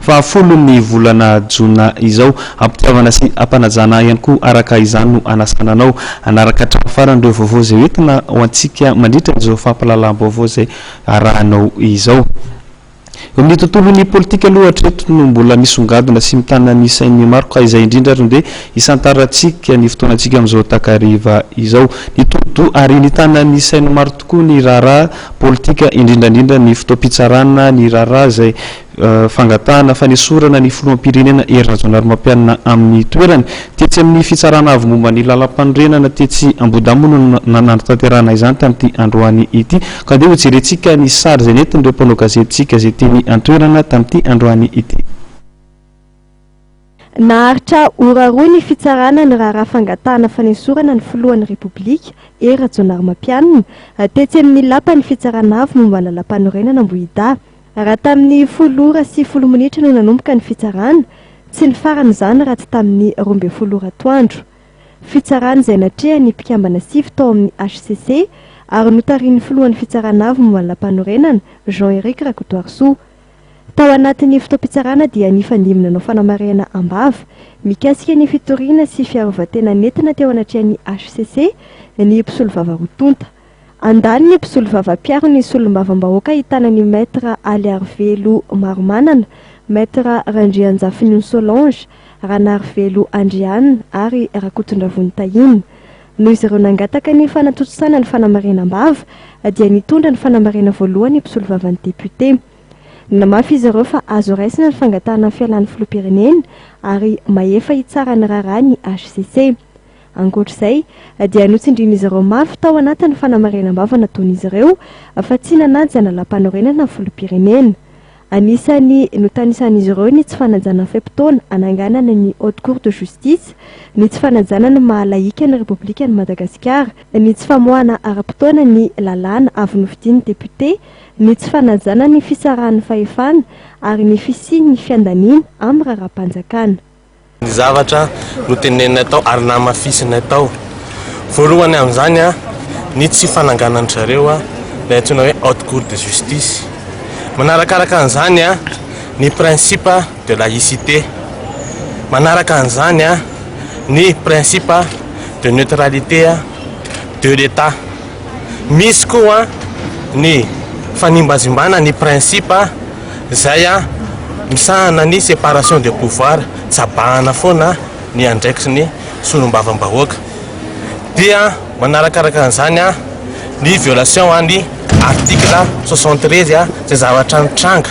Fahafolo ny volana jona izao. Ampitiavana sy ampanajana ihany koa araka izany no anasana anao hanaraka hatramin'ny farany ireo vaovao izay ho entina ho antsika mandritra izao fampalalam-baovao izay arahanao izao. Eo amin'ny tontolon'ny politika aloha hatreto no mbola misongadina sy mitana ny sain'ny maro ka izay indrindra ary no dia isantarantsika ny fotoanantsika amin'izao takariva izao. Nitodi-doha ary nitana ny sain'ny maro tokoa ny raharaha politika indrindra indrindra ny fotoam-pitsarana ny raharaha izay fangatahana fanesorana ny filoham-pirenena Hery Rajaonarimampianina amin'ny toerany. Tetsy amin'ny Fitsarana Avo momba ny Lalampanorenana tetsy Ambohidamo no nanatanterahana izany tamin'ity androany ity. Ka andeha hojerentsika ny sary izay nentin'ireo mpanao gazetintsika izay teny an-toerana tamin'ity androany ity. Naharitra ora roa ny fitsarana ny raharaha fangatahana fanesorana ny filohan'ny Repoblika, Hery Rajaonarimampianina, tetsy amin'ny lapan'ny fitsarana avo momba ny lalàmpanorenana Ambohidahy. Raha tamin'ny folo ora sy folo minitra no nanomboka ny fitsarana, tsy nifarana izany raha tsy tamin'ny roa ambin'ny folo ora atoandro. Fitsarana izay natrehan'ny mpikambana sivy tao amin'ny hcc ary notarihin'ny filohan'ny fitsarana avo momba ny lampanorenana, Jean Eric Rakotoarisoa. Tao anatin'ny fotoam-pitsarana dia nifandimby nanao fanamarihana am-bava mikasika ny fitoriana sy fiarovan-tena nentina teo anatrehan'ny hcc ny mpisolovava roa tonta. Handany ny mpisolovava mpiaro ny solombavambahoaka ahitana ny Maître Aliarivelo Maromanana, Maître Randrianjafinion Solange, Ranarivelo Andriana ary Rakotondravony Tahiana. Noho izy ireo nangataka ny fanatontosana ny fanamarinam-bava dia nitondra ny fanamarihana voalohany ny mpisolovavan'ny depiote. Namafy izy ireo fa azo raisina ny fangatahana ny fialan'ny filoham-pirenena ary mahefa hitsara ny raharaha ny hcc. Ankoatra izay dia notsindrin'izy ireo mafy tao anatin'ny fanamarinam-bava nataon'izy ireo fa tsy nanaja ny lalàmpanorenana ny filoham-pirenena. Anisan'ny notanisan'izy ireo ny tsy fanajana fe-potoana hananganana ny Haute Cour de Justice, ny tsy fanajana ny maha lahika ny Repoblikan'i Madagasikara, ny tsy famoahana ara-potoana ny lalàna avy nofidin'ny depiote, ny tsy fanajana ny fisarahan'ny fahefana ary ny fisian'ny fiandaniana amin'ny raharaham-panjakana. ny zavatra noteneninay tao ary namafisinay tao. Voalohany amin'izany ny tsy fananganan-dry zareo ilay antsoina hoe Haute Cour de Justice. Manarakaraka an'izany ny principe de laïcité. Manaraka an'izany ny principe de neutralité de l'Etat. Misy koa ny fanimbazimbana ny principe izay misahana ny separation des pouvoirs, tsabahana foana ny andraikitry ny solombavambahoaka. Dia manarakaraka an'izany ny violation an'ny article soixante treize izay zavatra nitranga.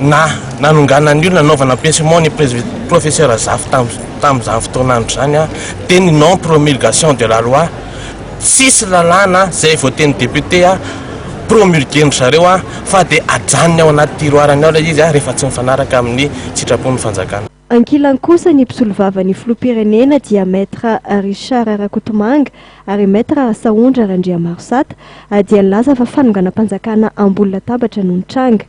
na nanongana an'io nanaovana pincement ny Professeur Zafy tamin'izany fotoana andro izany dia ny non promulgation de la loi, tsisy lalàna izay voaten'ny député promulguer-ndry zareo fa dia ajanony ao anaty tiroirany ao ilay izy rehefa tsy mifanaraka amin'ny sitrapon'ny fanjakana. Ankilany kosa ny mpisolovavan'ny filoham-pirenena dia Maître Richard Rakotomanga ary Maître Sahondra Randriamarosaty dia nilaza fa fanonganam-panjakana ambony latabatra no nitranga.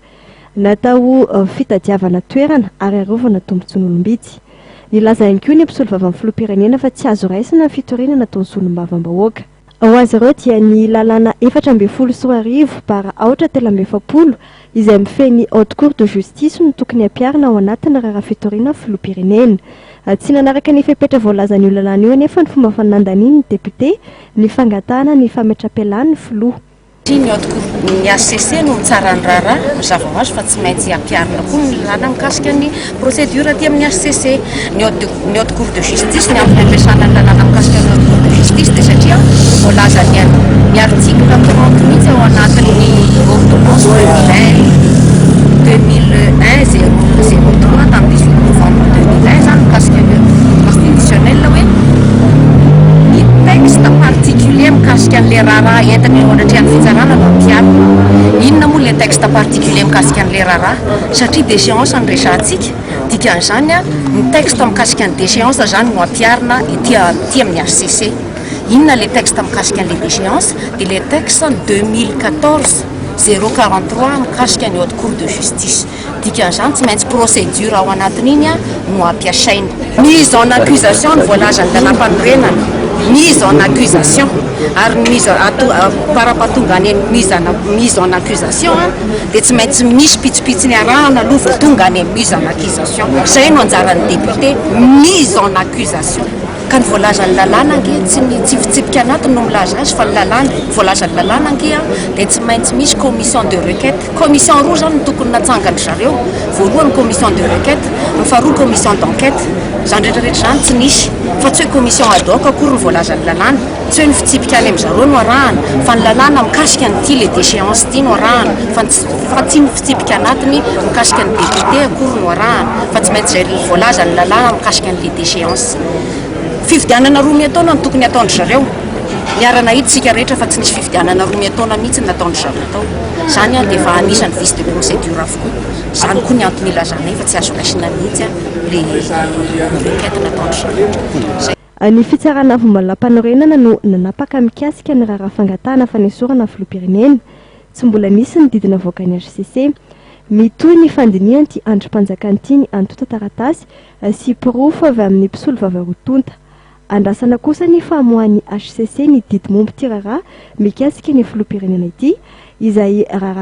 Natao fitadiavana toerana ary arovana tombontsoan'olom-bitsy. Nilaza ihany koa ny mpisolovavan'ny filoham-pirenena fa tsy azo raisina ny fitoriana nataon'ny solombavambahoaka. Ho azy ireo dia ny lalàna efatra ambin'ny folo sy roa arivo bar aotra telo amby efapolo izay mifehy ny Haute Cour de Justice no tokony hampiharina ao anatiny raharaha fitoriana filoham-pirenena. Tsy nanaraka ny fepetra voalazan'io lalàna io anefa ny fomba fanandanian'ny depiote ny fangatahana ny fametraham-pialan'ny filoha. Satria ny hot group ny hcc no mitsara ny raharaha, mazava ho azy fa tsy maintsy ampiharina koa ny lalana mikasika ny procédure aty amin'ny hcc. Ny hot de ny haute cour de justice ny amin'ny ampiasana ny lalàna mikasika ny haute cour de justice dia satria voalaza ny ny article trente mihitsy ao anatin'ny ordonnance deux mille un deux mille un zéro zéro trois tamin'ny dix huit novembre deux mille un izany mikasika ny haute cour constitutionnelle hoe ny texte particulier mikasika an'ilay raharaha Entiny eo anatrehan'ny fitsarana no hampiharina. Inona moa ilay texte particulier mikasika an'ilay raharaha? Satria déchéance no resahantsika, dikan'izany ny texte mikasika ny déchéance izany no hampiharina ety ety amin'ny hcc. Inona ilay texte mikasika an'ilay déchéance? Dia ilay texte deux mille quatorze zéro quarante trois mikasika ny haute cour de justice. Dikan'izany tsy maintsy procédure ao anatin'iny no ampiasaina. Mise en accusation no voalazan'ny lalàmpanorenana, mise en accusation, ary ny mise par ampahatonga any amin'ny mise en accusation dia tsy maintsy misy pitsopitsony arahana aloha vao tonga any amin'ny mise en accusation. Izay no anjaran'ny député, mise en accusation. Ka ny voalazan'ny lalàna ange tsy ny tsifitsipika anatiny no milaza azy fa ny lalàna, ny voalazan'ny lalàna ange dia tsy maintsy misy commission de requête. Commission roa izany no tokony natsangan-dry zareo, voalohany commission de requête, ny faharoa commission d'enquête. Izany rehetra rehetra izany tsy nisy, fa tsy hoe commission ad hoc akory no voalazan'ny lalàna, tsy hoe ny fitsipika any amin-dry zareo no arahana, fa ny lalàna mikasika an'ity les déchéances ity no arahana, fa tsy fa tsy ny fitsipika anatiny mikasika ny députés akory no arahana, fa tsy maintsy izay voalazan'ny lalàna mikasika ny les déchéances. Fifidianana roa miataona no tokony hataon-dry zareo, niara-nahita isika rehetra fa tsy nisy fifidianana roa miataona mihitsy no nataon-dry zareo tao. Izany dia efa anisan'ny vice de procédure avokoa. Izany koa ny antony ilazanay fa tsy azo raisina mihitsy ilay enquête nataon-dry zareo. Ny Fitsarana avo Mallam-panorenana no nanapaka mikasika ny raharaha fangatahana fanesorana filoham-pirenena. Tsy mbola nisy ny didy navoakan'ny hcc. Mitohy ny fandinihan'ity andrim-panjakana ity ny antontan-taratasy sy porofo avy amin'ny mpisolovava roa tonta. Andrasana kosa ny famoahan'ny hcc ny didy momba ity raharaha mikasika ny filoham-pirenena ity, izay raharaha